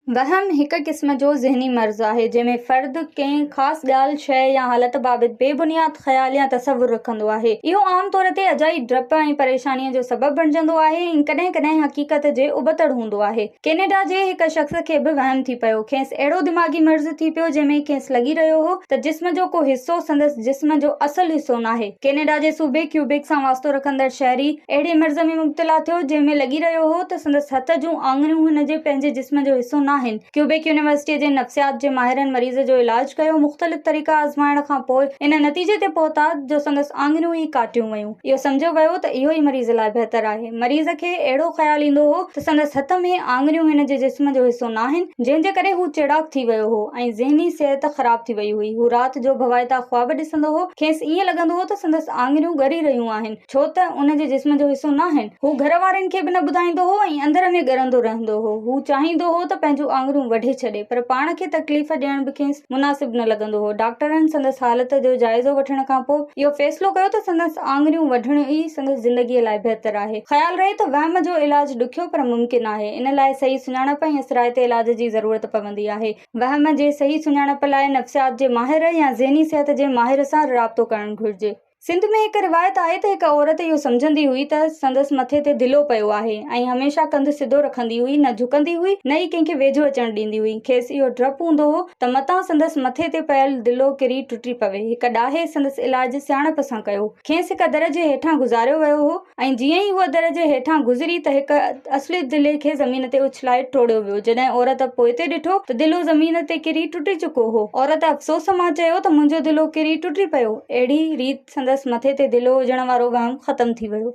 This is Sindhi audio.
وهم هڪ قسم جو ذهني مرض آهي، جنهن ۾ فرد ڪنهن خاص ڳالهه، شيء يا حالت بابت بي بنياد خيال يا تصور رکندو آهي. اهو عام طور تي اجائي ڊپ ۽ پريشانيء جو سبب بڻجندو آهي ۽ ڪڏهن ڪڏهن حقيقت جي ابتڙ هوندو آهي. ڪينيڊا جي هڪ شخص کي به وهم ٿي پيو. کيس اهڙو دماغي مرض ٿي پيو، جنهن ۾ کيس لڳي رهيو هو ته جسم جو ڪو حصو سندس جسم جو اصل حصو ناهي. ڪينيڊا جي صوبي ڪيوبيڪ سان واسطو رکندڙ شهري اهڙي مرض ۾ مبتلا ٿيو، جنهن ۾ لڳي رهيو هو ته سندس هٿ جون آڱريون هن جي پنهنجي جسم جو حصو ناهن. ڪيوبيڪ يونيورسٽيء جي نفسيات جي ماهرن مريض جو علاج ڪيو، مختلف طريقا آزمائڻ کان پوء ان نتيجي تي پهتا جو سندس آڱريون ئي ڪاٽيون ويون. اهو سمجهيو ويو ته اهو ئي مريض لاء بهتر آهي. مريض کي اهڙو خيال ايندو هو ته سندس هٿ ۾ آڱريون هن جي جسم جو حصو ناهن، جنهن جي ڪري هو چيڙاڪ ٿي ويو هو ۽ ذهني صحت خراب ٿي وئي هئي. هو رات جو ڀوائتا خواب ڏسندو هو. کيس ائين لڳندو هو ته سندس آڱريون ڳري رهيون آهن، ڇو ته ان جي جسم جو حصو ناهن. هو گهر وارن کي به نه ٻڌائيندو هو ۽ اندر ۾ ڳرندو رهندو هو. هو چاهيندو هو ته پنهنجون آڱريون وڍي ڇڏي، پر پاڻ کي تڪليف ڏيڻ به کيس. مناسب نه لڳندو هو. ڊاڪٽرن سندس حالت جو جائزو وٺڻ کان پوء اهو فيصلو ڪيو ته سندس آڱريون وڍڻ ئي سندس زندگيء لاء بهتر آهي. خيال رهي ته وهم جو علاج ڏکيو پر ممڪن آهي. ان لاء صحيح سڃاڻپ ۽ اثرائتي علاج جي ضرورت پوندي آهي. وهم جي صحيح سڃاڻپ لاء نفسيات جي ماهر يا ذهني صحت جي ماهر سان رابطو ڪرڻ گهرجي. سنڌ ۾ هڪ روايت آهي ته هڪ عورت اهو سمجهندي هئي ته سندس مٿي تي دلو پيو آهي ۽ هميشه ڪنڌ سڌو رکندي هئي، نه جهڪندي هئي، نه ئي ڪنهن کي ويجهو اچڻ ڏيندي هئي. کيس اهو ڊپ هوندو هو ته متان سندس مٿي تي پيل دلو ڪري ٽٽي پوي. هڪ ڏاهي سندس علاج سياڻپ سان ڪيو. کيس هڪ در جي هيٺان گذاريو ويو هو. ۽ جيئن ئي هوء در جي هيٺان گذري ته هڪ اصليت دلي کي زمين تي اڇلائي ٽوڙيو ويو. جڏهن عورت پوئتي ڏٺو ته دلو زمين تي ڪري ٽٽي چڪو هو. عورت افسوس مان چيو ته منهنجو دلو ڪري ٽٽي پيو. اهڙي ريت سندس مٿي تي دلو هجڻ وارو وهم ختم ٿي ويو.